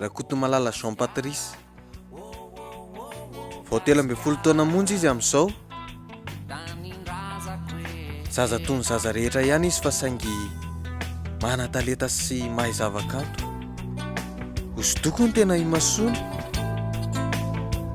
Rakotomalala Jean Patrice. Vao telo ambin'ny folo taona monja izy amin'izao. Zaza toy ny zaza rehetra ihany izy fa saingy manan-talenta sy mahay zavakanto. Hosodoko ny tena imasoana.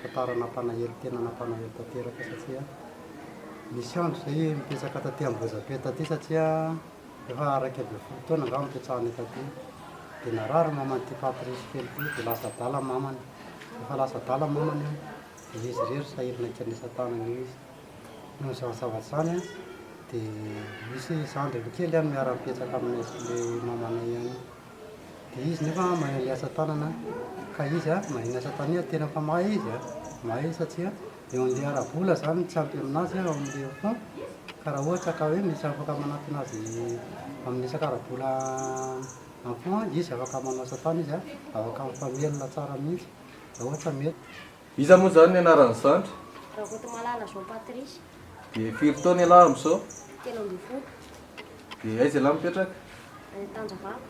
Tantara nampanahery tena nampanahery tanteraka satria misy andro zay mipetraka taty Ambohijatoy taty satria efa iraika ambin'ny folo taona angamba nipetrahanay taty dia narary ny maman'ity Patrice kely ity dia lasa adala ny mamany rehefa lasa adala ny mamany dia izy irery sahirana ikanesany tanana eo izy noho izany zavatra izany an dia misy zandriny kely miara-mipetraka aminay sy ilay mamanay ihany dia izy nefa mahay ny asa tanana ka izy mahay ny asa tanana, tena efa mahay izy an, mahay izy satria eo amin'ilay ara-bola izany no tsy ampy aminazy ao amin'ilay fonds, ka raha ohatra ka hoe misy afaka manatona azy amin'ny resaka ara-bola amin'ny fonds izy afaka manao asa tana izy an, afaka mifamelona tsara mihintsy raha ohatra mety. Iza moa izany ny anaran'ny zandry? Rakotomalala Jean Patrice. Dia firy taona ialahy amin'izao? Telo ambin'ny folo. Dia aiza ialahy mipetraka? Any Antanjavavy.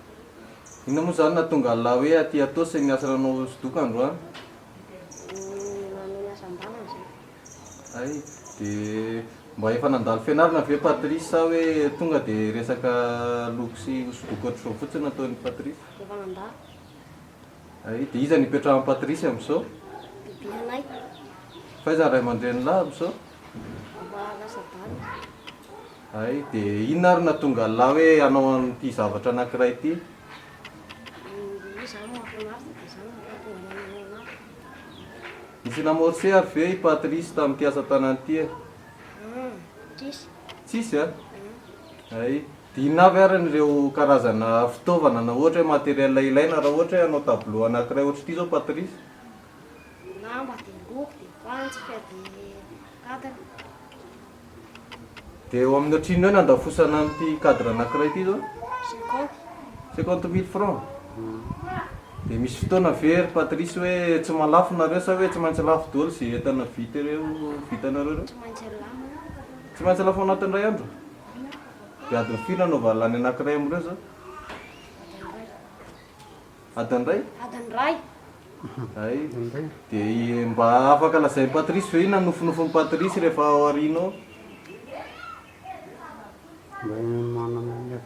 Inona moa izany nahatonga an'ilahy hoe aty Atossa iny asa nanao hosodoko androany? Nanao ny asa an-dalana izay. Hay, dia mba efa nandalo fianarana ve Patrice sa hoe tonga dia resaka loko sy hosodoko ohatr'izao fotsiny no ataon'i Patrice? Efa nandalo. Ay, dia iza no ipetrahan'i Patricia amin'izao? Bibianay. Fa iza ny ray aman-dreny lahy amin'izao? Mba lasa bandy. Ay, dia inona ary no nahatonga an'lah hoe hanao an'ity zavatra anankiray ity? Dia iza no mahafinaritra dia izany no mahatonga anay manao an'azy. Nisy namorce ary ve i Patrice tamin'ity asa tanana ity e? Hum, tsisy. Tsisy an? Hum. Ay. Inona avy ary ireo karazana fitaovana na ohatra hoe matériel ilaina raha ohatra hoe hanao tableau anankiray ohatra ity zao Patrice? Dia lamba, dia loko, dia fantsika, dia cadre. Dia eo amin'ny ohatrin'ny hoe nandafosana an'ity cadre anankiray ity zao? Cinquante. Cinquante mille francs? Dia misy fotoana ve ry Patrice hoe tsy mahalafo nareo sa hoe tsy maintsy lafo daholo izay entana vita ireo vitanareo ireo? Tsy maintsy lafo. Tsy maintsy lafo ao anatin'ny iray andro? Dia adin'ny firy no anaovana lany anankiray amin'ireo izao? Adin'ny iray. Adin'ny iray. Hay. Dia mba afaka lazain'i Patrice ve inona no nofinofin'i Patrice rehefa ao aoriana ao?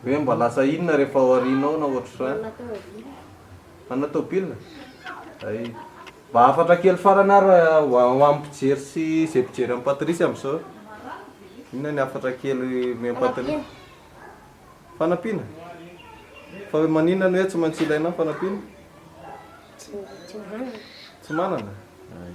Hoe mba lasa inona rehefa ao aoriana ao na ohatr'izany? Hanao tôbila? Hay. Mba hafatra kely farany ary ho amin'ny mpijery sy izay mpijery an'i Patrice amin'izao e. Inona ny hafatra kely omen'i Patrice? Fanampiana? Fa hoe maninona ny hoe tsy maintsy ilaina ny fanampiana? Tsy manana. Tsy manana? Hay.